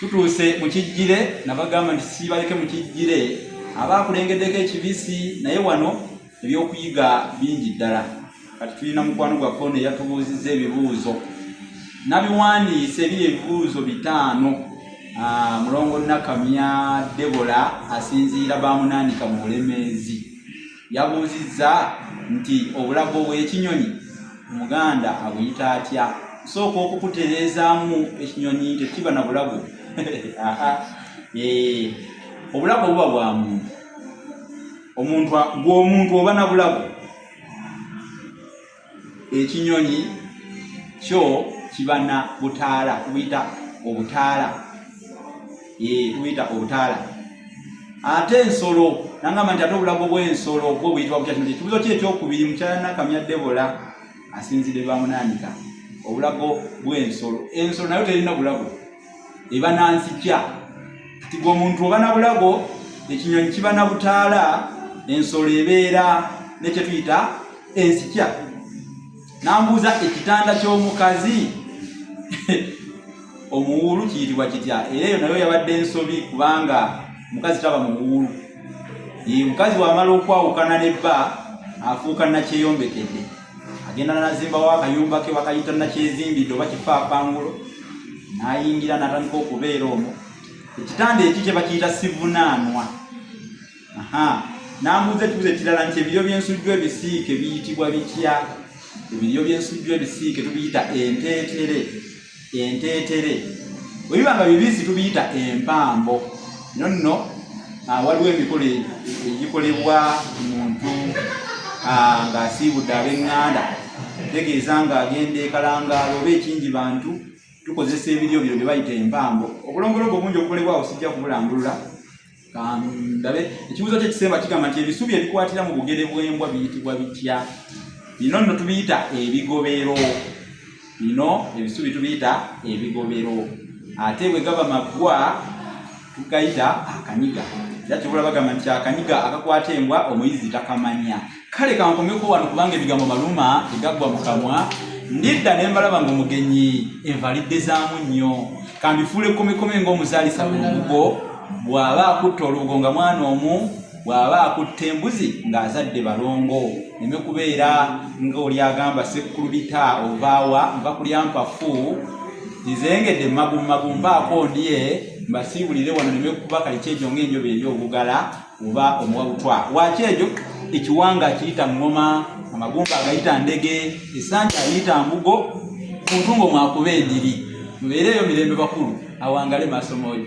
tutuuse mu kijjire nabagamba nti sibaleke mu kijjire aba akulengeddeko ekibisi naye wano ebyokuyiga bingi ddala kati tulina mukwano gwaffe ono eyatubuuzizza ebibuuzo nabiwandiise ebiri ebibuuzo bitaano ah, mulongo nakamya debola asinziira bamunanika mu bulemeezi Yabuuzizza nti obulago bw'ekinyonyi Omuganda abuyita atya? Nsooka okukutereezaamu ekinyonyi tekiba na bulago. Eh, obulago buba bwa muntu. Omuntu gw'omuntu oba na bulago. ekinyonyi kyo kiba na butaala tubuyita obutaala eh, tubuyita obutaala ate ensolo nangamba nti ate obulago bw'ensolo bwo buyitibwa butya kino kyekibuzo ki ekyokubiri mukyalanakamya debola asinzidde bamunaanika obulago bw'ensolo ensolo nayo terina bulago eba na nzija kati gwe omuntu oba na bulago ekinyonyi kiba na butaala ensolo ebeera nekyetuyita enzija nambuuza ekitanda ky'omukazi omuwuulu kiyitibwa kitya era eyo nayo yabadde ensobi kubanga mukazi taba muwuulu ye mukazi wamala okwawukana ne bba afuuka nakyeyombekedde agenda nazimbawo akayumba ke bakayita nakyezimbidde oba kifaapangulo nayingira natandika okubeera omwo ekitanda eki kyebakiyita sivunaanwa namuuza ekibuzo ekirala nti ebiryo byensujju ebisiike biyitibwa bitya ebiryo byensujju ebisiike tubiyita enteetere enteetere webiba nga bibisi tubiyita empambo no nno ah, waliwo emikolo e, egikolebwa muntu ah, ng'asiibudde ab'eŋŋanda tegeeza ng'agenda ekalangaalo oba ekingi bantu tukozesa ebiryo bino bye bayita empambo obulombolombo obungi obukolebwawo sijja kubulambulula kandabe ekibuzo kye kisemba kigamba nti ebisubi ebikwatira mu bugere bw'embwa biyitibwa bitya bino nno tubiyita ebigobero bino ebisubi tubiyita ebigobero ate bwe gaba maggwa tugayita akanyiga era kibula bagamba nti akanyiga akakwata embwa omuyizi takamanya kale kankomeko wano kubanga ebigambo maluma tegaggwa mu kamwa ndidda ne mbalaba ng'omugenyi envalidde zaamu nnyo kambifuula ekkomekome ng'omuzaalisa mu lubugo bw'aba akutte olubugo nga mwana omu bw'aba akutte embuzi ng'azadde balongo neme kubeera ng'oli agamba sekkulubita ovaawa nva kulya mpafu nzengedde magummagumbaakoondye mbasiibulire wano neme kuba kalikyejo ng'enjoba eri obugala oba omuwa butwa waaki ekyo ekiwanga akiyita ŋŋoma amagumba agayita ndege esanja ayita mbugo kuntungo mwakuba endiri mubeereeyo mirembe bakulu awangale maaso mooyo